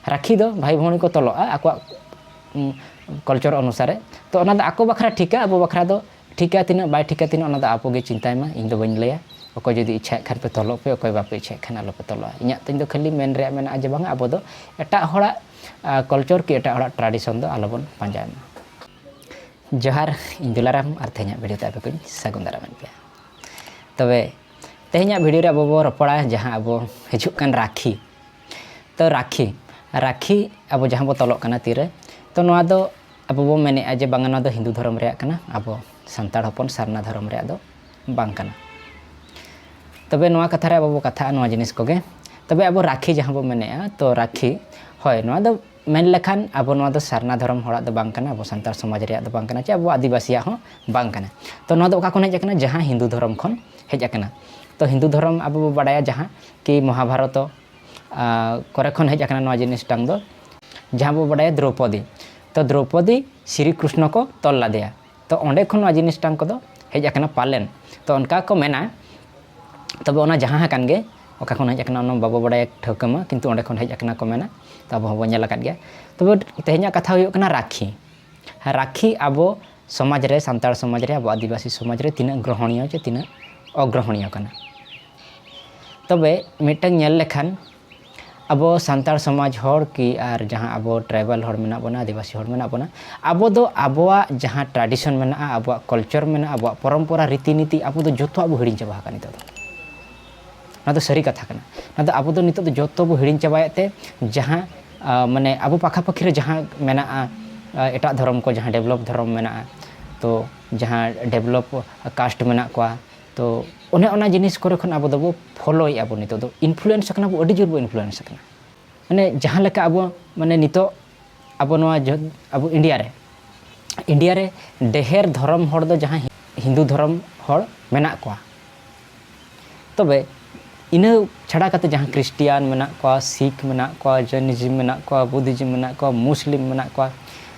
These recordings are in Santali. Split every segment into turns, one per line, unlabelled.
ᱨᱟᱠᱷᱤ ᱫᱚ ᱵᱷᱟᱭ ᱵᱷᱚᱱᱤ ᱠᱚ ᱛᱚᱞᱚᱜᱼᱟ ᱟᱠᱚᱣᱟᱜ ᱠᱚᱞᱪᱚᱨ ᱚᱱᱩᱥᱟᱨᱮ ᱛᱚ ᱚᱱᱟ ᱫᱚ ᱟᱠᱚ ᱵᱟᱠᱷᱨᱟ ᱴᱷᱤᱠᱟ ᱟᱵᱚ ᱵᱟᱠᱷᱨᱟ ᱫᱚ ᱴᱷᱤᱠᱟ ᱛᱤᱱᱟᱹᱜ ᱵᱟᱭ ᱴᱷᱤᱠᱟ ᱛᱤᱱᱟᱹᱜ ᱚᱱᱟ ᱫᱚ ᱟᱵᱚ ᱜᱮ ᱪᱤᱱᱛᱟᱭ ᱢᱟ ᱤᱧ ᱫᱚ ᱵᱟᱹᱧ ᱞᱟᱹᱭᱟ ᱚᱠᱚᱭ ᱡᱩᱫᱤ ᱤᱪᱪᱷᱟᱭᱮᱫ ᱠᱷᱟᱱ ᱯᱮ ᱛᱚᱞᱚᱜ ᱯᱮ ᱚᱠᱚᱭ ᱵᱟᱯᱮ ᱤᱪᱪᱷᱟᱭᱮᱫ ᱠᱷᱟᱱ ᱟᱞᱚ ᱯᱮ ᱛᱚᱞᱚᱜᱼᱟ ᱤᱧᱟᱹᱜ ᱛᱤᱧ ᱫᱚ ᱠᱷᱟᱹᱞᱤ ᱢᱮᱱ ᱨᱮᱭᱟᱜ ᱢᱮᱱᱟᱜᱼᱟ ᱡᱮ ᱵᱟᱝᱟ ᱟᱵᱚ ᱫᱚ ᱮᱴᱟᱜ ᱦᱚᱲᱟᱜ ᱠᱚᱞᱪᱚᱨ ᱠᱤ ᱮᱴᱟᱜ ᱦᱚᱲᱟᱜ ᱴᱨᱟᱰᱤᱥᱚᱱ ᱫᱚ ᱟᱞᱚ ᱵᱚᱱ ᱯᱟᱸᱡᱟᱭ ᱢᱟ ᱡᱚᱦᱟᱨ ᱤᱧ ᱫᱩᱞᱟᱨᱟᱢ ᱟᱨ ᱛᱮᱦᱮᱧᱟᱜ ᱵᱷᱤᱰᱤᱭᱳ ᱛᱮ ᱟᱯᱮ ᱠᱚᱧ ᱥᱟᱹᱜᱩᱱ ᱫᱟᱨᱟᱢᱮᱫ ᱯᱮᱭᱟ ᱛᱚᱵᱮ ᱛᱮᱦᱮᱧᱟᱜ ᱵᱷᱤᱰᱤᱭᱳ ᱨᱮ ᱟᱵᱚ ᱵᱚ ᱨᱚᱯᱚᱲᱟ ᱡᱟᱦᱟᱸ ᱟᱵᱚ ᱦᱤᱡᱩᱜ ᱠᱟᱱ ᱨᱟᱠᱷᱤ ᱛᱚ ᱨᱟᱠᱷᱤ ᱨᱟᱠᱷᱤ ᱟᱵᱚ ᱡᱟᱦᱟᱸ ᱵᱚ ᱛᱚᱞᱚᱜ ᱠᱟᱱᱟ ᱛᱤᱨᱮ ᱛᱚ ᱱᱚᱣᱟ ᱫᱚ ᱟᱵᱚ ᱵᱚ ᱢᱮᱱᱮᱫᱼᱟ ᱡᱮ ᱵᱟᱝᱟ ᱱᱚᱣᱟ ᱫᱚ ᱦᱤᱱᱫᱩ ᱫᱷᱚᱨᱚᱢ ᱨᱮᱭᱟᱜ ᱠᱟᱱᱟ ᱟᱵᱚ ᱥᱟᱱᱛᱟᱲ ᱦᱚᱯᱚᱱ ᱥᱟᱨᱱᱟ ᱫᱷᱚᱨᱚᱢ ᱨᱮᱭᱟᱜ ᱫᱚ ᱵᱟᱝ ᱠᱟᱱᱟ ᱛᱚᱵᱮ ᱱᱚᱣᱟ ᱠᱟᱛᱷᱟ ᱨᱮ ᱟᱵᱚ ᱵᱚ ᱠᱟᱛᱷᱟᱜᱼᱟ ᱱᱚᱣᱟ ᱡᱤᱱᱤᱥ ᱠᱚᱜᱮ ᱛᱚᱵᱮ ᱟᱵᱚ ᱨᱟᱠᱷᱤ ᱡᱟᱦᱟᱸ ᱵᱚ ᱢᱮᱱᱮᱫᱼᱟ ᱛᱚ ᱨᱟᱠᱷᱤ ᱦᱳᱭ ᱱᱚᱣᱟ ᱫᱚ ᱢᱮᱱ ᱞᱮᱠᱷᱟᱱ ᱟᱵᱚ ᱱᱚᱣᱟ ᱫᱚ ᱥᱟᱨᱱᱟ ᱫᱷᱚᱨᱚᱢ ᱦᱚᱲᱟᱜ ᱫᱚ ᱵᱟᱝ ᱠᱟᱱᱟ ᱟᱵᱚ ᱥᱟᱱᱛᱟᱲ ᱥᱚᱢᱟᱡᱽ ᱨᱮᱭᱟᱜ ᱫᱚ ᱵᱟᱝ ᱠᱟᱱᱟ ᱪᱮ ᱟᱵᱚ ᱟᱹᱫᱤᱵᱟᱹᱥᱤᱭᱟᱜ ᱦᱚᱸ ᱵᱟᱝ ᱠᱟᱱᱟ ᱛᱚ ᱱᱚᱣᱟ ᱫᱚ ᱚᱠᱟ ᱠᱷᱚᱱ ᱦᱮᱡ ᱟᱠᱟᱱᱟ ᱡᱟᱦᱟᱸ ᱦᱤᱱᱫᱩ ᱫᱷᱚᱨᱚᱢ ᱠᱷᱚᱱ ᱦᱮᱡ ᱟᱠᱟᱱᱟ ᱛᱚ ᱦᱤᱱᱫᱩ ᱫᱷᱚᱨᱚᱢ ᱟᱵᱚ ᱵᱚ ᱵᱟᱰᱟᱭᱟ ᱡᱟᱦᱟᱸ ᱠᱤ ᱢᱚᱦᱟᱵᱷᱟᱨᱚᱛᱚ ᱠᱚᱨᱮ ᱠᱷᱚᱱ ᱦᱮᱡ ᱟᱠᱟᱱᱟ ᱱᱚᱣᱟ ᱡᱤᱱᱤᱥᱴᱟᱝ ᱫᱚ ᱡᱟᱦᱟᱸ ᱵᱚ ᱵᱟᱰᱟᱭᱟ ᱫᱨᱳᱯᱚᱫᱤ ᱛᱚ ᱫᱨᱳᱯᱚᱫᱤ ᱥᱨᱤ ᱠᱨᱤᱥᱱᱚ ᱠᱚ ᱛᱚᱞ ᱞᱟᱫᱮᱭᱟ ᱛᱚ ᱚᱸᱰᱮ ᱠᱷᱚᱱ ᱱᱚᱣᱟ ᱡᱤᱱᱤᱥᱴᱟᱝ ᱠᱚᱫᱚ ᱦᱮᱡ ᱟᱠᱟᱱᱟ ᱯᱟᱞᱮᱱ ᱛᱚ ᱚᱱᱠᱟ ᱠᱚ ᱢᱮᱱᱟ ᱛᱚᱵᱮ ᱚᱱᱟ ᱡᱟᱦᱟᱸ ᱟᱠᱟᱱ ᱜᱮ ᱚᱠᱟ ᱠᱷᱚᱱ ᱦᱮᱡ ᱟᱠᱟᱱᱟ ᱚᱱᱟ ᱵᱟᱵᱚ ᱵᱟᱰᱟᱭᱟ ᱴᱷᱟᱹᱣᱠᱟᱹ ᱢᱟ ᱠᱤᱱᱛᱩ ᱚᱸᱰᱮ ᱠᱷᱚᱱ ᱦᱮᱡ ᱟᱠᱟᱱᱟ ᱠᱚ ᱢᱮᱱᱟ ᱛᱚ ᱟᱵᱚ ᱦᱚᱸᱵᱚ ᱧᱮᱞ ᱟᱠᱟᱫ ᱜᱮᱭᱟ ᱛᱚᱵᱮ ᱛᱮᱦᱮᱧᱟᱜ ᱠᱟᱛᱷᱟ ᱦᱩᱭᱩᱜ ᱠᱟᱱᱟ ᱨᱟᱠᱷᱤ ᱨᱟᱠᱷᱤ ᱟᱵᱚ ᱥᱚᱢᱟᱡᱽ ᱨᱮ ᱥᱟᱱᱛᱟᱲ ᱥᱚᱢᱟᱡᱽ ᱨᱮ ᱟᱵᱚ ᱟᱹᱫᱤᱵᱟᱹᱥᱤ ᱥᱚᱢᱟᱡᱽ ᱨᱮ ᱛᱤᱱᱟᱹᱜ ᱜᱨᱚᱦᱚᱱᱤᱭᱚ ᱪᱮ ᱛᱤᱱᱟᱹᱜ ᱚᱜᱨᱚᱦᱚᱱᱤᱭᱚ ᱠᱟᱱᱟ ᱛᱚᱵᱮ ᱢᱤᱫᱴᱟᱝ ᱧᱮᱞ ᱞᱮᱠᱷᱟᱱ ᱟᱵᱚ ᱥᱟᱱᱛᱟᱲ ᱥᱚᱢᱟᱡᱽ ᱦᱚᱲ ᱠᱤ ᱟᱨ ᱡᱟᱦᱟᱸ ᱟᱵᱚ ᱴᱨᱟᱭᱵᱟᱞ ᱦᱚᱲ ᱢᱮᱱᱟᱜ ᱵᱚᱱᱟ ᱟᱹᱫᱤᱵᱟᱹᱥᱤ ᱦᱚᱲ ᱢᱮᱱᱟᱜ ᱵᱚᱱᱟ ᱟᱵᱚ ᱫᱚ ᱟᱵᱚᱣᱟᱜ ᱡᱟᱦᱟᱸ ᱴᱨᱟᱰᱤᱥᱚᱱ ᱢᱮᱱᱟᱜᱼᱟ ᱟᱵᱚᱣᱟᱜ ᱠᱚᱞᱪᱚᱨ ᱢᱮᱱᱟᱜᱼᱟ ᱟᱵᱚᱣᱟᱜ ᱯᱚᱨᱚᱢᱯᱚᱨᱟ ᱨᱤᱛᱤ ᱱᱤᱛᱤ ᱟᱵᱚ ᱫᱚ ᱡᱚᱛᱚᱣᱟᱜ ᱵᱚ ᱦᱤᱲᱤᱧ ᱪᱟᱵᱟ ᱟᱠᱟᱫ ᱱᱤᱛᱚᱜ ᱫᱚ ᱱᱚᱣᱟ ᱫᱚ ᱥᱟᱹᱨᱤ ᱠᱟᱛᱷᱟ ᱠᱟᱱᱟ ᱱᱚᱣᱟ ᱫᱚ ᱟᱵᱚ ᱫᱚ ᱱᱤᱛᱚᱜ ᱫᱚ ᱡᱚᱛᱚ ᱵᱚ ᱦᱤᱲᱤᱧ ᱪᱟᱵᱟᱭᱮᱫ ᱛᱮ ᱡᱟᱦᱟᱸ ᱢᱟᱱᱮ ᱟᱵᱚ ᱯᱟᱠᱷᱟ ᱯᱟᱹᱠᱷᱤ ᱨᱮ ᱡᱟᱦᱟᱸ ᱢᱮᱱᱟᱜᱼᱟ ᱮᱴᱟᱜ ᱫᱷᱚᱨᱚᱢ ᱠᱚ ᱡᱟᱦᱟᱸ ᱰᱮᱵᱷᱞᱚᱯ ᱫᱷᱚᱨᱚᱢ ᱢᱮᱱᱟᱜᱼᱟ ᱛᱚ ᱡᱟᱦᱟᱸ ᱰᱮᱵᱷᱞᱚᱯ ᱠᱟᱥᱴ ᱢᱮᱱᱟᱜ ᱠᱚᱣᱟ ᱛᱚ ᱚᱱᱮ ᱚᱱᱟ ᱡᱤᱱᱤᱥ ᱠᱚᱨᱮ ᱠᱷᱚᱱ ᱟᱵᱚ ᱫᱚᱵᱚ ᱯᱷᱚᱞᱳᱭᱮᱫᱼᱟ ᱵᱚ ᱱᱤᱛᱚᱜ ᱫᱚ ᱤᱱᱯᱷᱞᱩᱭᱮᱱᱥ ᱟᱠᱟᱱᱟ ᱵᱚ ᱟᱹᱰᱤ ᱡᱳᱨ ᱵᱚ ᱤᱱᱯᱷᱞᱩᱭᱮᱱᱥ ᱟᱠᱟᱱᱟ ᱢᱟᱱᱮ ᱡᱟᱦᱟᱸ ᱞᱮᱠᱟ ᱟᱵᱚ ᱢᱟᱱᱮ ᱱᱤᱛᱚᱜ ᱟᱵᱚ ᱱᱚᱣᱟ ᱟᱵᱚ ᱤᱱᱰᱤᱭᱟ ᱨᱮ ᱤᱱᱰᱤᱭᱟ ᱨᱮ ᱰᱮᱦᱮᱨ ᱫᱷᱚᱨᱚᱢ ᱦᱚᱲ ᱫᱚ ᱡᱟᱦᱟᱸ ᱦᱤᱱᱫᱩ ᱫᱷᱚᱨᱚᱢ ᱦᱚᱲ ᱢᱮᱱᱟᱜ ᱠᱚᱣᱟ ᱛᱚᱵᱮ ᱤᱱᱟᱹ ᱪᱷᱟᱰᱟ ᱠᱟᱛᱮ ᱡᱟᱦᱟᱸ ᱠᱨᱤᱥᱴᱤᱭᱟᱱ ᱢᱮᱱᱟᱜ ᱠᱚᱣᱟ ᱥᱤᱠᱷ ᱢᱮᱱᱟᱜ ᱠᱚᱣᱟ ᱡᱚᱭᱱᱤᱡᱤᱢ ᱢᱮᱱᱟᱜ ᱠᱚᱣᱟ ᱵᱩᱫᱷᱤᱡᱤᱢ ᱢᱮᱱᱟᱜ ᱠᱚᱣᱟ ᱢᱩᱥᱞᱤᱢ ᱢᱮᱱᱟᱜ ᱠᱚᱣᱟ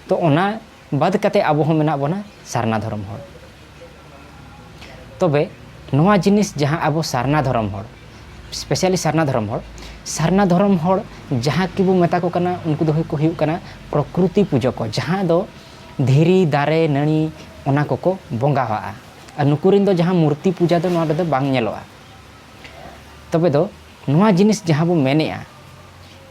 ᱛᱚ ᱚᱱᱟ ᱵᱟᱫᱽ ᱠᱟᱛᱮ ᱟᱵᱚ ᱦᱚᱸ ᱢᱮᱱᱟᱜ ᱵᱚᱱᱟ ᱥᱟᱨᱱᱟ ᱫᱷᱚᱨᱚᱢ ᱦᱚᱲ ᱛᱚᱵᱮ ᱱᱚᱣᱟ ᱡᱤᱱᱤᱥ ᱡᱟᱦᱟᱸ ᱟᱵᱚ ᱥᱟᱨᱱᱟ ᱫᱷᱚᱨᱚᱢ ᱦᱚᱲ ᱥᱯᱮᱥᱟᱞᱤ ᱥᱟᱨᱱᱟ ᱫᱷᱚᱨᱚᱢ ᱦᱚᱲ ᱥᱟᱨᱱᱟ ᱫᱷᱚᱨᱚᱢ ᱦᱚᱲ ᱡᱟᱦᱟᱸ ᱠᱤᱵᱚ ᱢᱮᱛᱟ ᱠᱚ ᱠᱟᱱᱟ ᱩᱱᱠᱩ ᱫᱚ ᱠᱚ ᱦᱩᱭᱩᱜ ᱠᱟᱱᱟ ᱯᱨᱚᱠᱨᱤᱛᱤ ᱯᱩᱡᱟᱹ ᱠᱚ ᱡᱟᱦᱟᱸ ᱫᱚ ᱫᱷᱤᱨᱤ ᱫᱟᱨᱮ ᱱᱟᱹᱲᱤ ᱚᱱᱟ ᱠᱚᱠᱚ ᱵᱚᱸᱜᱟᱣᱟᱜᱼᱟ ᱟᱨ ᱱᱩᱠᱩ ᱨᱮᱱ ᱫᱚ ᱡᱟᱦᱟᱸ ᱢᱩᱨᱛᱤ ᱯᱩᱡᱟᱹ ᱫᱚ ᱱᱚᱣᱟ ᱨᱮᱫᱚ ᱵᱟᱝ ᱧᱮᱞᱚᱜᱼᱟ ᱛᱚᱵᱮ ᱫᱚ ᱱᱚᱣᱟ ᱡᱤᱱᱤᱥ ᱡᱟᱦᱟᱸ ᱵᱚ ᱢᱮᱱᱮᱜᱼᱟ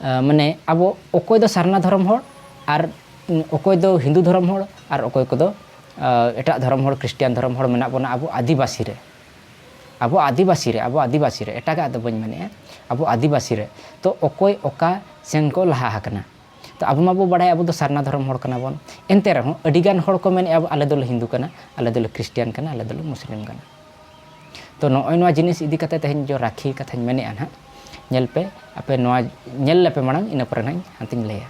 ᱢᱟᱱᱮ ᱟᱵᱚ ᱚᱠᱚᱭ ᱫᱚ ᱥᱟᱨᱱᱟ ᱫᱷᱚᱨᱚᱢ ᱦᱚᱲ ᱟᱨ ᱚᱠᱚᱭ ᱫᱚ ᱦᱤᱱᱫᱩ ᱫᱷᱚᱨᱚᱢ ᱦᱚᱲ ᱟᱨ ᱚᱠᱚᱭ ᱠᱚᱫᱚ ᱮᱴᱟᱜ ᱫᱷᱚᱨᱚᱢ ᱦᱚᱲ ᱠᱷᱨᱤᱥᱴᱤᱭᱟᱱ ᱫᱷᱚᱨᱚᱢ ᱦᱚᱲ ᱢᱮᱱᱟᱜ ᱵᱚᱱᱟ ᱟᱵᱚ ᱟᱹᱫᱤᱵᱟᱹᱥᱤ ᱨᱮ ᱟᱵᱚ ᱟᱹᱫᱤᱵᱟᱹᱥᱤ ᱨᱮ ᱟᱵᱚ ᱟᱹᱫᱤᱵᱟᱹᱥᱤ ᱨᱮ ᱮᱴᱟᱜᱟᱜ ᱫᱚ ᱵᱟᱹᱧ ᱢᱮᱱᱮᱫᱼᱟ ᱟᱵᱚ ᱟᱹᱫᱤᱵᱟᱹᱥᱤ ᱨᱮ ᱛᱚ ᱚᱠᱚᱭ ᱚᱠᱟ ᱥᱮᱱ ᱠᱚ ᱞᱟᱦᱟ ᱟᱠᱟᱱᱟ ᱛᱚ ᱟᱵᱚ ᱢᱟᱵᱚ ᱵᱟᱲᱟᱭ ᱟᱵᱚ ᱫᱚ ᱥᱟᱨᱱᱟ ᱫᱷᱚᱨᱚᱢ ᱦᱚᱲ ᱠᱟᱱᱟ ᱵᱚᱱ ᱮᱱᱛᱮ ᱨᱮᱦᱚᱸ ᱟᱹᱰᱤᱜᱟᱱ ᱦᱚᱲ ᱠᱚ ᱢᱮᱱᱮᱫᱼᱟ ᱟᱞᱮ ᱫᱚᱞᱮ ᱦᱤᱱᱫᱩ ᱠᱟᱱᱟ ᱟᱞᱮ ᱫᱚᱞᱮ ᱠᱷᱨᱤᱥᱴᱤᱭᱟᱱ ᱠᱟᱱᱟ ᱟᱞᱮ ᱫᱚᱞᱮ ᱢᱩᱥᱞᱤᱢ ᱠᱟᱱᱟ ᱛᱚ ᱱᱚᱜᱼᱚᱭ ᱱᱚᱣᱟ ᱡᱤᱱᱤᱥ ᱤᱫᱤ ᱠᱟᱛᱮ ᱛᱮᱦᱮᱧ ᱡᱚ ᱨᱟᱠᱷᱤ ᱠᱟᱛᱷᱟᱧ ᱢᱮᱱᱮᱫᱼᱟ ᱱᱟᱦᱟᱜ ᱧᱮᱞ ᱯᱮ ᱟᱯᱮ ᱱᱚᱣᱟ ᱧᱮᱞ ᱞᱮᱯᱮ ᱢᱟᱲᱟᱝ ᱤᱱᱟᱹ ᱯᱚᱨᱮ ᱱᱟᱦᱟᱜ ᱦᱟᱱᱛᱮᱧ ᱞᱟᱹᱭᱟ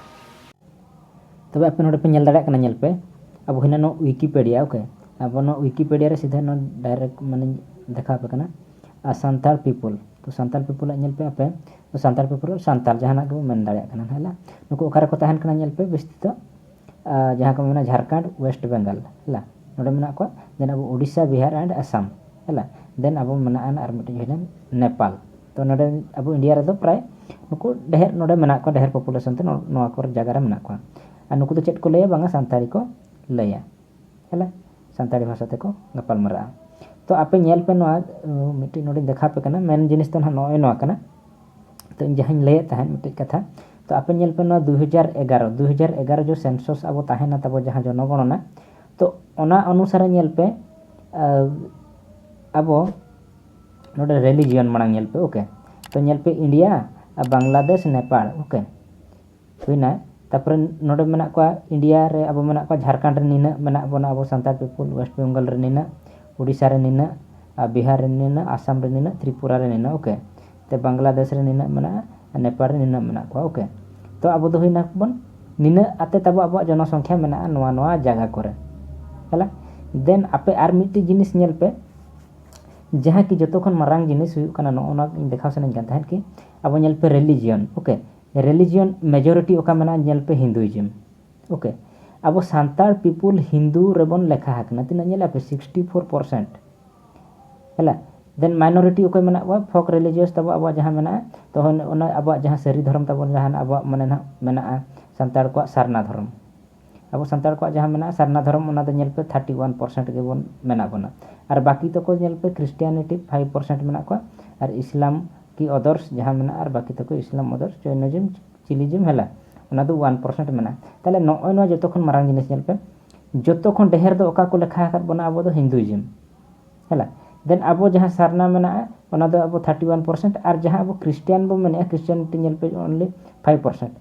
ᱛᱚᱵᱮ ᱟᱯᱮ ᱱᱚᱰᱮ ᱯᱮ ᱧᱮᱞ ᱫᱟᱲᱮᱭᱟᱜ ᱠᱟᱱᱟ ᱧᱮᱞ ᱯᱮ ᱟᱵᱚ ᱦᱤᱱᱟᱹ ᱱᱚᱣᱟ ᱣᱤᱠᱤᱯᱮᱰᱤᱭᱟ ᱳᱠᱮ ᱟᱵᱚ ᱱᱚᱣᱟ ᱣᱤᱠᱤᱯᱮᱰᱤᱭᱟ ᱨᱮ ᱥᱤᱫᱷᱟᱹ ᱱᱚᱣᱟ ᱰᱟᱭᱨᱮᱠᱴ ᱢᱟᱱᱮ ᱫᱮᱠᱷᱟᱣ ᱟᱯᱮ ᱠᱟᱱᱟ ᱟᱨ ᱥᱟᱱᱛᱟᱲ ᱯᱤᱯᱚᱞ ᱛᱚ ᱥᱟᱱᱛᱟᱲ ᱯᱤᱯᱚᱞᱟᱜ ᱧᱮᱞ ᱯᱮ ᱟᱯᱮ ᱥᱟᱱᱛᱟᱲ ᱯᱤᱯᱚᱞ ᱥᱟᱱᱛᱟᱲ ᱡᱟᱦᱟᱱᱟᱜ ᱜᱮᱵᱚ ᱢᱮᱱ ᱫᱟᱲᱮᱭᱟᱜ ᱠᱟᱱᱟ ᱱᱩᱠᱩ ᱚᱠᱟᱨᱮᱠᱚ ᱛᱟᱦᱮᱱ ᱠᱟᱱᱟ ᱧᱮᱞ ᱯᱮ ᱵᱮᱥᱤ ᱫᱚ ᱡᱟᱦᱟᱸ ᱠᱚ ᱢᱮᱱᱟ ᱡᱷᱟᱲᱠᱷᱚᱸᱰ ᱳᱭᱮᱥᱴ ᱵᱮᱝᱜᱚᱞ ᱦᱮᱞᱟ ᱱᱚᱰᱮ ᱢᱮᱱᱟᱜ ᱠᱚᱣᱟ ᱫᱮᱱ ᱟᱵᱚ ᱳᱰᱤᱥᱟ ᱵᱤᱦᱟᱨ ᱮᱱᱰ ᱟᱥᱟᱢ ᱦᱮᱞᱟ ᱫᱮᱱ ᱟᱵᱚ ᱢᱮᱱᱟᱜ ᱟᱱ ᱟᱨ ᱢᱤᱫᱴᱤᱡ ᱦᱩᱭᱱᱟ ᱱᱮᱯᱟᱞ ᱛᱚ ᱱᱚᱰᱮ ᱟᱵᱚ ᱤᱱᱰᱤᱭᱟ ᱨᱮᱫᱚ ᱯᱨᱟᱭ ᱱᱩᱠᱩ ᱰᱷᱮᱨ ᱱᱚᱰᱮ ᱢᱮᱱᱟᱜ ᱠᱚᱣᱟ ᱰᱷᱮᱨ ᱯᱚᱯᱩᱞᱮᱥᱚᱱ ᱛᱮ ᱱᱚᱣᱟ ᱠᱚᱨᱮ ᱡᱟᱭᱜᱟ ᱨᱮ ᱢᱮᱱᱟᱜ ᱠᱚᱣᱟ ᱟᱨ ᱱᱩᱠᱩ ᱫᱚ ᱪᱮᱫ ᱠᱚ ᱞᱟᱹᱭᱟ ᱵᱟᱝᱟ ᱥᱟᱱᱛᱟᱲᱤ ᱠᱚ ᱞᱟᱹᱭᱟ ᱦᱮᱞᱟ ᱥᱟᱱᱛᱟᱲᱤ ᱵᱷᱟᱥᱟ ᱛᱮᱠᱚ ᱜᱟᱯᱟᱞ ᱢᱟᱨᱟᱜᱼᱟ ᱛᱚ ᱟᱯᱮ ᱧᱮᱞ ᱯᱮ ᱱᱚᱣᱟ ᱢᱤᱫᱴᱤᱡ ᱱᱚᱰᱮᱧ ᱫᱮᱠᱷᱟᱣ ᱟᱯᱮ ᱠᱟᱱᱟ ᱢᱮᱱ ᱡᱤᱱᱤᱥ ᱫᱚ ᱱᱟᱦᱟᱜ ᱱᱚᱜᱼᱚᱭ ᱱᱚᱣᱟ ᱠᱟᱱᱟ ᱛᱚ ᱤᱧ ᱡᱟᱦᱟᱸᱧ ᱞᱟᱹᱭᱮᱫ ᱛᱟᱦᱮᱸᱫ ᱢᱤᱫᱴᱮᱱ ᱠᱟᱛᱷᱟ ᱛᱚ ᱟᱯᱮ ᱧᱮᱞ ᱯᱮ ᱱᱚᱣᱟ ᱫᱩ ᱦᱟᱡᱟᱨ ᱮᱜᱟᱨᱚ ᱫᱩ ᱦᱟᱡᱟᱨ ᱮᱜᱟᱨᱚ ᱡᱚᱠᱷᱚᱱ ᱥᱮᱱᱥᱚᱥ ᱟᱵᱚ ᱛᱟᱦᱮᱱᱟ ᱛᱟᱵᱚ ᱡᱟᱦᱟᱸ ᱡᱚᱱᱚᱜᱚᱱᱚᱱᱟ ᱛᱚ ᱚᱱᱟ ᱚᱱᱩᱥᱟᱨᱮ ᱧᱮᱞ ᱯᱮ ᱟᱵᱚ ᱱᱚᱰᱮ ᱨᱮᱞᱤᱡᱤᱭᱚᱱ ᱢᱟᱲᱟᱝ ᱧᱮᱞ ᱯᱮ ᱳᱠᱮ ᱛᱚ ᱧᱮᱞ ᱯᱮ ᱤᱱᱰᱤᱭᱟ ᱟᱨ ᱵᱟᱝᱞᱟᱫᱮᱥ ᱱᱮᱯᱟᱞ ᱳᱠᱮ ᱦᱩᱭᱱᱟ ᱛᱟᱯᱚᱨᱮ ᱱᱚᱰᱮ ᱢᱮᱱᱟᱜ ᱠᱚᱣᱟ ᱤᱱᱰᱤᱭᱟ ᱨᱮ ᱟᱵᱚ ᱢᱮᱱᱟᱜ ᱠᱚᱣᱟ ᱡᱷᱟᱲᱠᱷᱚᱸᱰ ᱨᱮ ᱱᱤᱱᱟᱹᱜ ᱢᱮᱱᱟᱜ ᱵᱚᱱᱟ ᱟᱵᱚ ᱥᱟᱱᱛᱟᱲ ᱯᱤᱯᱤᱞ ᱳᱭᱮᱥᱴ ᱵᱮᱝᱜᱚᱞ ᱨᱮ ᱱᱤᱱᱟᱹᱜ ᱳᱰᱤᱥᱟ ᱨᱮ ᱱᱤᱱᱟᱹᱜ ᱟᱨ ᱵᱤᱦᱟᱨ ᱨᱮ ᱱᱤᱱᱟᱹᱜ ᱟᱥᱟᱢ ᱨᱮ ᱱᱤᱱᱟᱹᱜ ᱛᱨᱤᱯᱩᱨᱟ ᱨᱮ ᱱᱤᱱᱟᱹᱜ ᱳᱠᱮ ᱛᱚ ᱵᱟᱝᱞᱟᱫᱮᱥ ᱨᱮ ᱱᱤᱱᱟᱹᱜ ᱢᱮᱱᱟᱜᱼᱟ ᱟᱨ ᱱᱮᱯᱟᱞ ᱨᱮ ᱱᱤᱱᱟᱹᱜ ᱢᱮᱱᱟᱜ ᱠᱚᱣᱟ ᱳᱠᱮ ᱛᱚ ᱟᱵᱚ ᱫᱚ ᱦᱩᱭᱱᱟ ᱵᱚᱱ ᱱᱤᱱᱟᱹᱜ ᱟᱛᱮ ᱛᱟᱵᱚ ᱟᱵᱚᱣᱟᱜ ᱡᱚᱱᱚ ᱥᱚᱝᱠᱷᱟ ᱢᱮᱱᱟᱜᱼᱟ ᱱᱚᱣᱟ ᱱᱚᱣᱟ ᱡᱟᱭᱜᱟ ᱠᱚᱨᱮ ᱦᱮᱞᱟ ᱫᱮᱱ ᱟᱯᱮ ᱟᱨ ᱢᱤᱫᱴᱤᱡ ᱡᱤᱱᱤᱥ ᱧᱮᱞ ᱯᱮ ᱡᱟᱦᱟᱸ ᱠᱤ ᱡᱚᱛᱚ ᱠᱷᱚᱱ ᱢᱟᱨᱟᱝ ᱡᱤᱱᱤᱥ ᱦᱩᱭᱩᱜ ᱠᱟᱱᱟ ᱱᱚᱜᱼᱚ ᱱᱚᱣᱟ ᱫᱮᱠᱷᱟᱣ ᱥᱟᱱᱟᱧ ᱠᱟᱱ ᱛᱟᱦᱮᱸᱫ ᱠᱤ ᱟᱵᱚ ᱧᱮᱞ ᱯᱮ ᱨᱮᱞᱤᱡᱤᱭᱚᱱ ᱳᱠᱮ ᱨᱮᱞᱤᱡᱤᱭᱚᱱ ᱢᱮᱡᱚᱨᱤᱴᱤ ᱚᱠᱟ ᱢᱮᱱᱟᱜᱼᱟ ᱧᱮᱞ ᱯᱮ ᱦᱤᱱᱫᱩᱭᱤᱡᱚᱢ ᱳᱠᱮ ᱟᱵᱚ ᱥᱟᱱᱛᱟᱲ ᱯᱤᱯᱩᱞ ᱦᱤᱱᱫᱩ ᱨᱮᱵᱚᱱ ᱞᱮᱠᱷᱟ ᱟᱠᱟᱱᱟ ᱛᱤᱱᱟᱹᱜ ᱧᱮᱞᱮᱫᱼᱟ ᱯᱮ ᱥᱤᱠᱥᱴᱤ ᱯᱷᱳᱨ ᱯᱟᱨᱥᱮᱱᱴ ᱦᱮᱞᱟ ᱫᱮᱱ ᱢᱟᱭᱱᱚᱨᱤᱴᱤ ᱚᱠᱚᱭ ᱢᱮᱱᱟᱜ ᱠᱚᱣᱟ ᱯᱷᱳᱠ ᱨᱤᱞᱤᱡᱤᱭᱚᱥ ᱛᱟᱵᱚ ᱟᱵᱚᱣᱟᱜ ᱡᱟᱦᱟᱸ ᱢᱮᱱᱟᱜᱼᱟ ᱛᱚ ᱚᱱᱟ ᱟᱵᱚᱣᱟᱜ ᱡᱟᱦᱟᱸ ᱥᱟᱹᱨᱤ ᱫᱷᱚᱨᱚᱢ ᱛᱟᱵᱚᱱ ᱡᱟᱦᱟᱱᱟᱜ ᱟᱵᱚᱣᱟᱜ ᱢᱟᱱᱮ ᱱᱟᱦᱟᱜ ᱢᱮᱱᱟᱜᱼᱟ ᱥᱟᱱᱛᱟᱲ ᱠᱚᱣᱟᱜ ᱥᱟᱨᱱᱟ ᱫᱷᱚᱨᱚᱢ ᱟᱵᱚ ᱥᱟᱱᱛᱟᱲ ᱠᱚᱣᱟᱜ ᱡᱟᱦᱟᱸ ᱢᱮᱱᱟᱜᱼᱟ ᱥᱟᱨᱱᱟ ᱫᱷᱚᱨᱚᱢ ᱚᱱᱟ ᱫᱚ ᱧᱮᱞ ᱯᱮ ᱛᱷᱟᱨᱴᱤ ᱚᱣᱟᱱ ᱯᱟᱨᱥᱮᱱᱴ ᱜᱮᱵᱚᱱ ᱢᱮᱱᱟᱜ ᱵᱚᱱᱟ ᱟᱨ ᱵᱟᱹᱠᱤ ᱛᱟᱠᱚ ᱧᱮᱞ ᱯᱮ ᱠᱷᱨᱤᱥᱴᱤᱭᱟᱱᱤᱴᱤ ᱯᱷᱟᱭᱤᱵᱷ ᱯᱟᱨᱥᱮᱱᱴ ᱢᱮᱱᱟᱜ ᱠᱚᱣᱟ ᱟᱨ ᱤᱥᱞᱟᱢ ᱠᱤ ᱚᱫᱚᱨᱥ ᱡᱟᱦᱟᱸ ᱢᱮᱱᱟᱜᱼᱟ ᱟᱨ ᱵᱟᱹᱠᱤ ᱛᱟᱠᱚ ᱤᱥᱞᱟᱢ ᱚᱫᱚᱨᱥ ᱡᱳᱭᱱᱤᱡᱚᱢ ᱪᱤᱞᱤᱡᱚᱢ ᱦᱮᱞᱟ ᱚᱱᱟ ᱫᱚ ᱚᱣᱟᱱ ᱯᱟᱨᱥᱮᱱᱴ ᱢᱮᱱᱟᱜᱼᱟ ᱛᱟᱦᱚᱞᱮ ᱱᱚᱜᱼᱚᱭ ᱱᱚᱣᱟ ᱡᱚᱛᱚ ᱠᱷᱚᱱ ᱢᱟᱨᱟᱝ ᱡᱤᱱᱤᱥ ᱧᱮᱞ ᱯᱮ ᱡᱚᱛᱚ ᱠᱷᱚᱱ ᱰᱷᱮᱨ ᱫᱚ ᱚᱠᱟ ᱠᱚ ᱞᱮᱠᱷᱟ ᱟᱠᱟᱫ ᱵᱚᱱᱟ ᱟᱵᱚ ᱫᱚ ᱦᱤᱱᱫᱩᱭᱤᱡᱚᱢ ᱦᱮᱞᱟ ᱫᱮᱱ ᱟᱵᱚ ᱡᱟᱦᱟᱸ ᱥᱟᱨᱱᱟ ᱢᱮᱱᱟᱜᱼᱟ ᱚᱱᱟ ᱫᱚ ᱟᱵᱚ ᱛᱷᱟᱨᱴᱤ ᱚᱣᱟᱱ ᱯᱟᱨᱥᱮᱱᱴ ᱟᱨ ᱡᱟᱦᱟᱸ ᱟᱵᱚ ᱠᱷᱨᱤᱥᱴᱤᱭᱟᱱ ᱵᱚᱱ ᱢᱮᱱᱮᱫᱼᱟ ᱠᱷᱨᱤᱥᱴᱤᱭᱟᱱᱤᱴᱤ ᱧᱮᱞ ᱯᱮ ᱚᱱᱞᱤ ᱯᱷᱟᱭᱤᱵᱷ ᱯᱟᱨᱥᱮᱱᱴ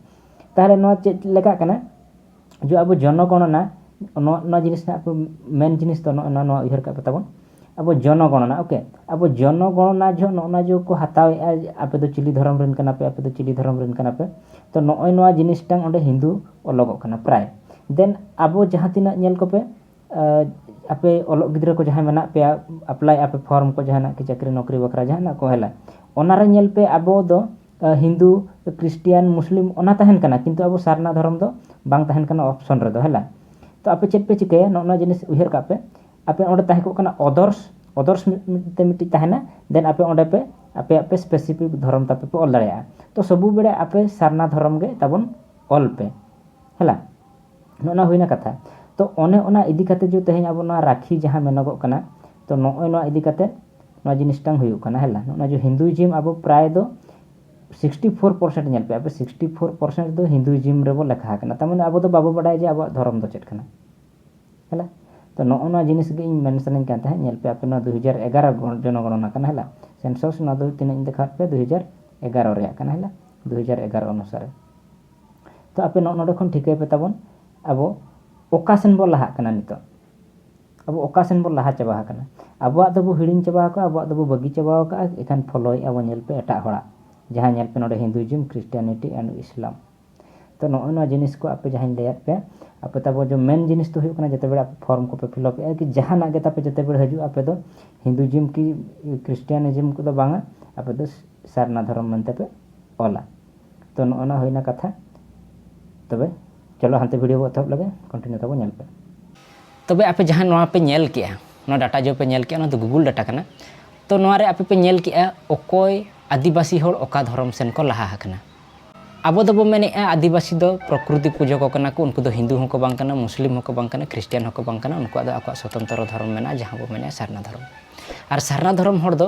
ᱛᱟᱦᱚᱞᱮ ᱱᱚᱣᱟ ᱪᱮᱫ ᱞᱮᱠᱟᱜ ᱠᱟᱱᱟ ᱡᱮ ᱟᱵᱚ ᱡᱚᱱᱚ ᱜᱚᱱᱚᱱᱟ ᱱᱚᱣᱟ ᱱᱚᱣᱟ ᱡᱤᱱᱤᱥ ᱦᱟᱸᱜ ᱢᱮᱱ ᱡᱤᱱᱤᱥ ᱫᱚ ᱱᱚᱜᱼᱚ ᱱᱚᱣᱟ ᱱᱚᱣᱟ ᱩᱭᱦᱟᱹᱨ ᱠᱟᱜ ᱯᱮ ᱛᱟᱵᱚᱱ ᱟᱵᱚ ᱡᱚᱱᱚ ᱜᱚᱱᱚᱱᱟ ᱳᱠᱮ ᱟᱵᱚ ᱡᱚᱱᱚ ᱜᱚᱱᱚᱱᱟ ᱡᱚᱦᱚᱜ ᱱᱚᱜᱼᱚ ᱱᱚᱣᱟ ᱡᱮᱠᱚ ᱦᱟᱛᱟᱣᱮᱜᱼᱟ ᱟᱯᱮ ᱫᱚ ᱪᱤᱞᱤ ᱫᱷᱚᱨᱚᱢ ᱨᱮᱱ ᱠᱟᱱᱟ ᱯᱮ ᱟᱯᱮ ᱫᱚ ᱪᱤᱞᱤ ᱫᱷᱚᱨᱚᱢ ᱨᱮᱱ ᱠᱟᱱᱟ ᱯᱮ ᱛᱚ ᱱᱚᱜᱼᱚᱭ ᱱᱚᱣᱟ ᱡᱤᱱᱤᱥᱴᱟ ᱚᱸᱰᱮ ᱦᱤᱱᱫᱩ ᱚᱞᱚᱜᱚᱜ ᱠᱟᱱᱟ ᱯᱨᱟᱭ ᱫᱮᱱ ᱟᱵᱚ ᱡᱟᱦᱟᱸ ᱛᱤᱱᱟᱹᱜ ᱧᱮᱞ ᱠᱚᱯᱮ ᱟᱯᱮ ᱚᱞᱚᱜ ᱜᱤᱫᱽᱨᱟᱹ ᱠᱚ ᱡᱟᱦᱟᱸᱭ ᱢᱮᱱᱟᱜ ᱯᱮᱭᱟ ᱮᱯᱞᱟᱭᱮᱜᱼᱟ ᱯᱮ ᱯᱷᱚᱨᱢ ᱠᱚ ᱡᱟᱦᱟᱱᱟᱜ ᱠᱚ ᱪᱟᱹᱠᱨᱤ ᱱᱚᱠᱨᱤ ᱵᱟᱠᱷᱨᱟ ᱡᱟᱦᱟᱱᱟᱜ ᱠᱚ ᱦᱮᱞᱟ ᱚᱱᱟᱨᱮ ᱧᱮᱞ ᱯᱮ ᱟᱵᱚ ᱫᱚ ᱦᱤᱱᱫᱩ ᱠᱨᱤᱥᱴᱤᱭᱟᱱ ᱢᱩᱥᱞᱤᱢ ᱚᱱᱟ ᱛᱟᱦᱮᱱ ᱠᱟᱱᱟ ᱠᱤᱱᱛᱩ ᱟᱵᱚ ᱥᱟᱨᱱᱟ ᱫᱷᱚᱨᱚᱢ ᱫᱚ ᱵᱟᱝ ᱛᱟᱦᱮᱱ ᱠᱟᱱᱟ ᱚᱯᱷᱥᱚᱱ ᱨᱮᱫᱚ ᱦᱮᱸᱞᱟ ᱛᱚ ᱟᱯᱮ ᱪᱮᱫ ᱯᱮ ᱪᱤᱠᱟᱹᱭᱟ ᱱᱚᱜᱼᱚ ᱱᱚᱣᱟ ᱡᱤᱱᱤᱥ ᱩᱭᱦᱟᱹᱨ ᱠᱟᱜ ᱯᱮ ᱟᱯᱮ ᱚᱸᱰᱮ ᱛᱟᱦᱮᱸ ᱠᱚᱜ ᱠᱟᱱᱟ ᱚᱫᱚᱨᱥ ᱚᱫᱚᱨᱥ ᱢᱮᱱᱛᱮ ᱢᱤᱫᱴᱤᱡ ᱛᱟᱦᱮᱱᱟ ᱫᱮᱱ ᱟᱯᱮ ᱚᱸᱰᱮ ᱯᱮ ᱟᱯᱮᱭᱟᱜ ᱯᱮ ᱥᱯᱮᱥᱤᱯᱷᱤᱠ ᱫᱷᱚᱨᱚᱢ ᱛᱟᱯᱮ ᱯᱮ ᱚᱞ ᱫᱟᱲᱮᱭᱟᱜᱼᱟ ᱛᱚ ᱥᱚᱵᱩ ᱵᱮᱲᱟ ᱟᱯᱮ ᱥᱟᱨᱱᱟ ᱫᱷᱚᱨᱚᱢ ᱜᱮ ᱛᱟᱵᱚᱱ ᱚᱞ ᱯᱮ ᱦᱮᱸᱞᱟ ᱱᱚᱜᱼᱚ ᱱᱚᱣᱟ ᱦᱩᱭᱱᱟ ᱠᱟᱛᱷᱟ ᱛᱚ ᱚᱱᱮ ᱚᱱᱟ ᱤᱫᱤ ᱠᱟᱛᱮᱫ ᱡᱮ ᱛᱮᱦᱮᱧ ᱟᱵᱚ ᱱᱚᱣᱟ ᱨᱟᱹᱠᱷᱤ ᱡᱟᱦᱟᱸ ᱢᱮᱱᱚᱜᱚᱜ ᱠᱟᱱᱟ ᱛᱚ ᱱᱚᱜᱼᱚᱭ ᱱᱚᱣᱟ ᱤᱫᱤ ᱠᱟᱛᱮ ᱱᱚᱣᱟ ᱡᱤᱱᱤᱥᱴᱟᱝ ᱦᱩᱭᱩᱜ ᱠᱟᱱᱟ ᱦᱮᱞᱟ ᱱᱚᱜᱼᱚᱭ ᱡᱮ ᱦᱤᱱᱫᱩᱭᱤᱡᱤᱢ ᱟᱵᱚ ᱯᱨᱟᱭ ᱫᱚ ᱥᱤᱠᱥᱴᱤ ᱯᱷᱳᱨ ᱯᱟᱨᱥᱮᱱᱴ ᱧᱮᱞ ᱯᱮ ᱟᱯᱮ ᱥᱤᱠᱥᱴᱤ ᱯᱷᱳᱨ ᱯᱟᱨᱥᱮᱱᱴ ᱫᱚ ᱦᱤᱱᱫᱩᱭᱤᱡᱤᱢ ᱨᱮᱵᱚ ᱞᱮᱠᱷᱟ ᱟᱠᱟᱱᱟ ᱛᱟᱨ ᱢᱟᱱᱮ ᱟᱵᱚ ᱫᱚ ᱵᱟᱵᱚ ᱵᱟᱰᱟᱭᱟ ᱡᱮ ᱟᱵᱚᱣᱟᱜ ᱫᱷᱚᱨᱚᱢ ᱫᱚ ᱪᱮᱫ ᱠᱟᱱᱟ ᱦᱮᱞᱟ ᱛᱚ ᱱᱚᱜᱼᱚ ᱱᱚᱣᱟ ᱡᱤᱱᱤᱥ ᱜᱮ ᱤᱧ ᱢᱮᱱ ᱥᱟᱱᱟᱧ ᱠᱟᱱ ᱛᱟᱦᱮᱸᱫ ᱧᱮᱞ ᱯᱮ ᱟᱯᱮ ᱱᱚᱣᱟ ᱫᱩ ᱦᱟᱡᱟᱨ ᱮᱜᱟᱨᱚ ᱡᱚᱱᱚᱜᱚᱱᱚᱱᱟ ᱠᱟᱱᱟ ᱦᱮᱞᱟ ᱥᱮᱱᱥᱚᱥ ᱱᱚᱣᱟ ᱫᱚ ᱛᱤᱱᱟᱹᱜ ᱤᱧ ᱫᱮᱠᱷᱟᱣᱟᱫ ᱯᱮᱭᱟ ᱫᱩ ᱦᱟᱡᱟᱨ ᱮᱜᱟᱨᱚ ᱨᱮᱭᱟᱜ ᱠᱟᱱᱟ ᱦᱮᱞᱟ ᱫᱩ ᱦᱟᱡᱟᱨ ᱮᱜᱟᱨᱚ ᱚᱱᱩᱥᱟᱨᱮ ᱛᱚ ᱟᱯᱮ ᱱᱚᱜᱼᱚ ᱱᱚᱰᱮ ᱠᱷᱚᱱ ᱴᱷᱤᱠᱟᱹᱭ ᱯᱮ ᱛᱟᱵᱚᱱ ᱟᱵᱚ ᱚᱠᱟ ᱥᱮᱱ ᱵᱚ ᱞᱟᱦᱟᱜ ᱠᱟᱱᱟ ᱱᱤᱛᱚᱜ ᱟᱵᱚ ᱚᱠᱟ ᱥᱮᱱ ᱵᱚᱱ ᱞᱟᱦᱟ ᱪᱟᱵᱟ ᱟᱠᱟᱱᱟ ᱟᱵᱚᱣᱟᱜ ᱫᱚᱵᱚ ᱦᱤᱲᱤᱧ ᱪᱟᱵᱟ ᱟᱠᱟᱫᱼᱟ ᱟᱵᱚᱣᱟᱜ ᱫᱚᱵᱚ ᱵᱟᱹᱜᱤ ᱪᱟᱵᱟ ᱟᱠᱟᱫᱼᱟ ᱮᱱᱠᱷᱟᱱ ᱯᱷᱳᱞᱳᱭᱮᱫᱼᱟ ᱵᱚᱱ ᱧᱮᱞ ᱯᱮ ᱮᱴᱟᱜ ᱦᱚᱲᱟᱜ ᱡᱟᱦᱟᱸ ᱧᱮᱞ ᱯᱮ ᱱᱚᱰᱮ ᱦᱤᱱᱫᱩᱭᱤᱡᱚᱢ ᱠᱨᱤᱥᱴᱤᱭᱟᱱᱤᱴᱤ ᱮᱱᱰ ᱤᱥᱞᱟᱢ ᱛᱚ ᱱᱚᱜᱼᱚᱭ ᱱᱚᱣᱟ ᱡᱤᱱᱤᱥ ᱠᱚ ᱟᱯᱮ ᱡᱟᱦᱟᱸᱧ ᱞᱟᱹᱭᱟᱫ ᱯᱮᱭᱟ ᱟᱯᱮ ᱛᱟᱵᱚ ᱡᱮ ᱢᱮᱱ ᱡᱤᱱᱤᱥ ᱫᱚ ᱦᱩᱭᱩᱜ ᱠᱟᱱᱟ ᱡᱮᱛᱮ ᱵᱮᱲᱟ ᱟᱯᱮ ᱯᱷᱚᱨᱢ ᱠᱚᱯᱮ ᱯᱷᱤᱞᱟᱯ ᱮᱫᱼᱟ ᱠᱤ ᱡᱟᱦᱟᱱᱟᱜ ᱜᱮ ᱛᱟᱯᱮ ᱡᱮᱛᱮ ᱵᱮᱲᱟ ᱦᱤᱡᱩᱜᱼᱟ ᱟᱯᱮ ᱫᱚ ᱦᱤᱱᱫᱩᱭᱤᱡᱚᱢ ᱠᱤ ᱠᱨᱤᱥᱴᱤᱭᱟᱱᱤᱡᱚᱢ ᱠᱚᱫᱚ ᱵᱟᱝᱟ ᱟᱯᱮ ᱫᱚ ᱥᱟᱨᱱᱟ ᱫᱷᱚᱨᱚᱢ ᱢᱮᱱᱛᱮ ᱯᱮ ᱚᱞᱟ ᱛᱚ ᱱᱚᱜᱼᱚᱭ ᱱᱚᱣᱟ ᱦᱩᱭᱮᱱᱟ ᱠᱟᱛᱷᱟ ᱛᱚᱵᱮ ᱪᱚᱞᱚ ᱦᱟᱱᱛᱮ ᱵᱷᱤᱰᱤᱭᱳ ᱵᱚ ᱮᱛᱚᱦᱚᱵ ᱞᱮᱜᱮ ᱠᱚᱱᱴᱤᱱᱤᱭᱩ ᱛᱟᱵᱚ ᱧᱮᱞ ᱯᱮ ᱛᱚᱵᱮ ᱟᱯᱮ ᱡᱟᱦᱟᱸ ᱱᱚᱣᱟ ᱯᱮ ᱧᱮᱞ ᱠᱮᱜᱼᱟ ᱱᱚᱣᱟ ᱰᱟᱴᱟ ᱡᱚ ᱯᱮ ᱧᱮᱞ ᱠᱮᱜᱼᱟ ᱚᱱᱟ ᱫᱚ ᱜᱩᱜᱩᱞ ᱰᱟᱴᱟ ᱠᱟᱱᱟ ᱛᱚ ᱱᱚᱣᱟ ᱨᱮ ᱟᱯᱮ ᱯᱮ ᱧᱮᱞ ᱠᱮᱜᱼᱟ ᱚᱠᱚᱭ ᱟᱹᱫᱤᱵᱟᱹᱥᱤ ᱦᱚᱲ ᱚᱠᱟ ᱫᱷᱚᱨᱚᱢ ᱥᱮᱱ ᱠᱚ ᱞᱟᱦᱟ ᱟᱠᱟᱱᱟ ᱟᱵᱚ ᱫᱚᱵᱚ ᱢᱮᱱᱮᱜᱼᱟ ᱟᱹᱫᱤᱵᱟᱹᱥᱤ ᱫᱚ ᱯᱨᱚᱠᱨᱤᱛᱤ ᱯᱩᱡᱟᱹ ᱠᱚ ᱠᱟᱱᱟ ᱠᱚ ᱩᱱᱠᱩ ᱫᱚ ᱦᱤᱱᱫᱩ ᱦᱚᱸᱠᱚ ᱵᱟᱝ ᱠᱟᱱᱟ ᱢᱩᱥᱞᱤᱢ ᱦᱚᱸᱠᱚ ᱵᱟᱝ ᱠᱟᱱᱟ ᱠᱷᱨᱤᱥᱴᱤᱭᱟᱱ ᱦᱚᱸᱠᱚ ᱵᱟᱝ ᱠᱟᱱᱟ ᱩᱱᱠᱩᱣᱟᱜ ᱫᱚ ᱟᱠᱚᱣᱟᱜ ᱥᱚᱛᱚᱱᱛᱨᱚ ᱫᱷᱚᱨᱚᱢ ᱢᱮᱱᱟᱜᱼᱟ ᱡᱟᱦᱟᱸ ᱵᱚ ᱢᱮᱱᱮᱜᱼᱟ ᱥᱟᱨᱱᱟ ᱫᱷᱚᱨᱚᱢ ᱟᱨ ᱥᱟᱨᱱᱟ ᱫᱷᱚᱨᱚᱢ ᱦᱚᱲ ᱫᱚ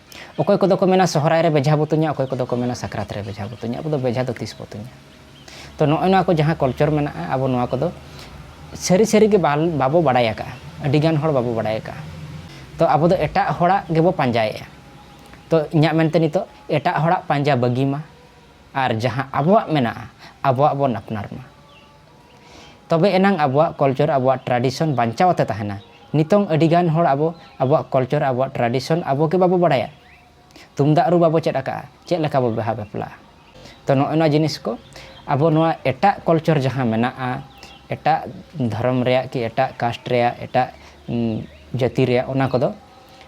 ᱚᱠᱚᱭ ᱠᱚᱫᱚ ᱠᱚ ᱢᱮᱱᱟ ᱥᱚᱦᱨᱟᱭ ᱨᱮ ᱵᱮᱡᱷᱟ ᱵᱚ ᱛᱩᱧᱟ ᱚᱠᱚᱭ ᱠᱚᱫᱚ ᱠᱚ ᱢᱮᱱᱟ ᱥᱟᱠᱨᱟᱛ ᱨᱮ ᱵᱮᱡᱷᱟ ᱵᱚ ᱛᱩᱧᱟ ᱟᱵᱚ ᱫᱚ ᱵᱮᱡᱷᱟ ᱫᱚ ᱛᱤᱥ ᱵᱚ ᱛᱩᱧᱟ ᱛᱚ ᱱᱚᱜᱼᱚᱭ ᱱᱚᱣᱟ ᱠᱚ ᱡᱟᱦᱟᱸ ᱠᱚᱞᱪᱚᱨ ᱢᱮᱱᱟᱜᱼᱟ ᱟᱵᱚ ᱱᱚᱣᱟ ᱠᱚᱫᱚ ᱥᱟᱹᱨᱤ ᱥᱟᱹᱨᱤ ᱜᱮ ᱵᱟᱵᱚ ᱵᱟᱲᱟᱭ ᱟᱠᱟᱫᱼᱟ ᱟᱹᱰᱤ ᱜᱟᱱ ᱦᱚᱲ ᱵᱟᱵᱚ ᱵᱟᱲᱟᱭ ᱟᱠᱟᱫᱼᱟ ᱛᱚ ᱟᱵᱚ ᱫᱚ ᱮᱴᱟᱜ ᱦᱚᱲᱟᱜ ᱜᱮᱵᱚ ᱯᱟᱸᱡᱟᱭᱮᱫᱼᱟ ᱛᱚ ᱤᱧᱟᱹᱜ ᱢᱮᱱᱛᱮ ᱱᱤᱛᱚᱜ ᱮᱴᱟᱜ ᱦᱚᱲᱟᱜ ᱯᱟᱸᱡᱟ ᱵᱟᱹᱜᱤ ᱢᱟ ᱟᱨ ᱡᱟᱦᱟᱸ ᱟᱵᱚᱣᱟᱜ ᱢᱮᱱᱟᱜᱼᱟ ᱟᱵᱚᱣᱟᱜ ᱵᱚᱱ ᱟᱯᱱᱟᱨ ᱢᱟ ᱛᱚᱵᱮ ᱮᱱᱟᱝ ᱟᱵᱚᱣᱟᱜ ᱠᱚᱞᱪᱚᱨ ᱟᱵᱚᱣᱟᱜ ᱴᱨᱟᱰᱤᱥᱚᱱ ᱵᱟᱧᱪᱟᱣ ᱟᱛᱮ ᱛᱟᱦᱮᱱᱟ ᱱᱤᱛᱚᱝ ᱟᱹᱰᱤ ᱜᱟᱱ ᱦᱚᱲ ᱟᱵᱚ ᱟᱵᱚᱣᱟᱜ ᱠᱚᱞᱪᱚᱨ ᱟᱵᱚᱣᱟᱜ ᱴᱨᱟᱰᱤᱥᱚᱱ ᱟᱵᱚ ᱜᱮ ᱵᱟᱵᱚ ᱵᱟᱲᱟᱭᱟ ᱛᱩᱢᱫᱟᱜ ᱨᱩ ᱵᱟᱵᱚ ᱪᱮᱫ ᱟᱠᱟᱫᱼᱟ ᱪᱮᱫ ᱞᱮᱠᱟ ᱵᱚ ᱵᱟᱦᱟ ᱵᱟᱯᱞᱟᱜᱼᱟ ᱛᱚ ᱱᱚᱜᱼᱚᱭ ᱱᱚᱣᱟ ᱡᱤᱱᱤᱥ ᱠᱚ ᱟᱵᱚ ᱱᱚᱣᱟ ᱮᱴᱟᱜ ᱠᱚᱞᱪᱚᱨ ᱡᱟᱦᱟᱸ ᱢᱮᱱᱟᱜᱼᱟ ᱮᱴᱟᱜ ᱫᱷᱚᱨᱚᱢ ᱨᱮᱭᱟᱜ ᱠᱤ ᱮᱴᱟᱜ ᱠᱟᱥᱴ ᱨᱮᱭᱟᱜ ᱮᱴᱟᱜ ᱡᱟᱹᱛᱤ ᱨᱮᱭᱟᱜ ᱚᱱᱟ ᱠᱚᱫᱚ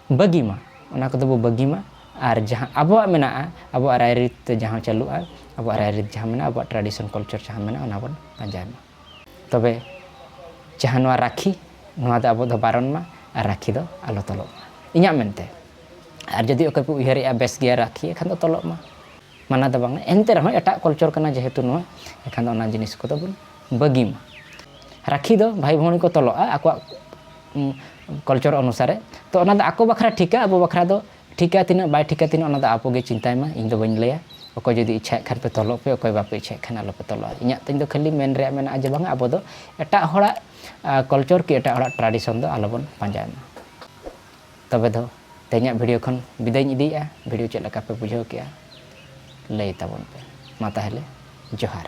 ᱵᱟᱹᱜᱤ ᱢᱟ ᱚᱱᱟ ᱠᱚᱫᱚ ᱵᱚ ᱵᱟᱹᱜᱤ ᱢᱟ ᱟᱨ ᱡᱟᱦᱟᱸ ᱟᱵᱚᱣᱟᱜ ᱢᱮᱱᱟᱜᱼᱟ ᱟᱵᱚᱣᱟᱜ ᱨᱟᱭᱨᱤᱛ ᱛᱮ ᱡᱟᱦᱟᱸ ᱪᱟᱹᱞᱩᱜᱼᱟ ᱟᱵᱚᱣᱟᱜ ᱨᱟᱭᱨᱤᱛ ᱡᱟᱦᱟᱸ ᱢᱮᱱᱟᱜᱼᱟ ᱟᱵᱚᱣᱟᱜ ᱴᱨᱟᱰᱤᱥᱚᱱ ᱠᱟᱞᱪᱟᱨ ᱡᱟᱦᱟᱸ ᱢᱮᱱᱟᱜᱼᱟ ᱚᱱᱟ ᱵᱚᱱ ᱯᱟᱸᱡᱟᱭ ᱢᱟ ᱛᱚᱵᱮ ᱡᱟᱦᱟᱸ ᱱᱚᱣᱟ ᱨᱟᱠᱷᱤ ᱱᱚᱣᱟ ᱫᱚ ᱟᱵᱚ ᱫᱚ ᱵᱟᱨᱚᱱ ᱢᱟ ᱟᱨ ᱨᱟᱠᱷᱤ ᱫᱚ ᱟᱞᱚ ᱛᱚᱞᱚᱜ ᱢᱟ ᱤᱧᱟᱹᱜ ᱢᱮᱱᱛᱮ ᱟᱨ ᱡᱩᱫᱤ ᱚᱠᱚᱭ ᱯᱮ ᱩᱭᱦᱟᱹᱨᱮᱜᱼᱟ ᱵᱮᱥ ᱜᱮᱭᱟ ᱨᱟᱠᱷᱤ ᱮᱱᱠᱷᱟᱱ ᱫᱚ ᱛᱚᱞᱚᱜ ᱢᱟ ᱢᱟᱱᱟ ᱫᱚ ᱵᱟᱝᱟ ᱮᱱᱛᱮ ᱨᱮᱦᱚᱸ ᱮᱴᱟᱜ ᱠᱚᱞᱪᱚᱨ ᱠᱟᱱᱟ ᱡᱮᱦᱮᱛᱩ ᱱᱚᱣᱟ ᱮᱱᱠᱷᱟᱱ ᱫᱚ ᱚᱱᱟ ᱡᱤᱱᱤᱥ ᱠᱚᱫᱚ ᱵᱚᱱ ᱵᱟᱹᱜᱤ ᱢᱟ ᱨᱟᱠᱷᱤ ᱫᱚ ᱵᱷᱟᱭ ᱵᱷᱚᱣᱱᱤ ᱠᱚ ᱛᱚᱞᱚᱜᱼᱟ ᱟᱠᱚᱣᱟᱜ ᱠᱚᱞᱪᱚᱨ ᱚᱱᱩᱥᱟᱨᱮ ᱛᱚ ᱚᱱᱟ ᱫᱚ ᱟᱠᱚ ᱵᱟᱠᱷᱨᱟ ᱴᱷᱤᱠᱟ ᱟᱵᱚ ᱵᱟᱠᱷᱨᱟ ᱫᱚ ᱴᱷᱤᱠᱟ ᱛᱤᱱᱟᱹᱜ ᱵᱟᱭ ᱴᱷᱤᱠᱟ ᱛᱤᱱᱟᱹᱜ ᱚᱱᱟ ᱫᱚ ᱟᱵᱚ ᱜᱮ ᱪᱤᱱᱛᱟᱭ ᱢᱟ ᱤᱧ ᱫᱚ ᱵᱟᱹᱧ ᱞᱟᱹᱭᱟ ᱚᱠᱚᱭ ᱡᱩᱫᱤ ᱤᱪᱪᱷᱟᱭᱮᱫ ᱠᱷᱟᱱ ᱯᱮ ᱛᱚᱞᱚᱜ ᱯᱮ ᱚᱠᱚᱭ ᱵᱟᱯᱮ ᱤᱪᱪᱷᱟᱭᱮᱫ ᱠᱷᱟᱱ ᱟᱞᱚ ᱯᱮ ᱛᱚᱞᱚᱜᱼᱟ ᱤᱧᱟᱹᱜ ᱛᱤᱧ ᱫᱚ ᱠᱷᱟᱹᱞᱤ ᱢᱮᱱ ᱨᱮᱭᱟᱜ ᱢᱮᱱᱟᱜᱼᱟ ᱡᱮ ᱵᱟᱝᱟ ᱟᱵᱚ ᱫᱚ ᱮᱴᱟᱜ ᱦᱚᱲᱟᱜ ᱠᱚᱞᱪᱚᱨ ᱠᱤ ᱮᱴᱟᱜ ᱦᱚᱲᱟᱜ ᱴᱨᱟᱰᱤᱥᱚᱱ ᱫᱚ ᱟᱞᱚ ᱵᱚᱱ ᱯᱟᱸᱡᱟᱭ ᱢᱟ ᱛᱚᱵᱮ ᱫᱚ ᱛᱮᱦᱮᱧᱟᱜ ᱵᱷᱤᱰᱤᱭᱳ ᱠᱷᱚᱱ ᱵᱤᱫᱟᱹᱭᱤᱧ ᱤᱫᱤᱭᱮᱜᱼᱟ ᱵᱷᱤᱰᱤᱭᱳ ᱪᱮᱫ ᱞᱮᱠᱟ ᱯᱮ ᱵᱩᱡᱷᱟᱹᱣ ᱠᱮᱜᱼᱟ ᱞᱟᱹᱭ ᱛᱟᱵᱚᱱ ᱯᱮ ᱢᱟ ᱛᱟᱦᱚᱞᱮ ᱡᱚᱦᱟᱨ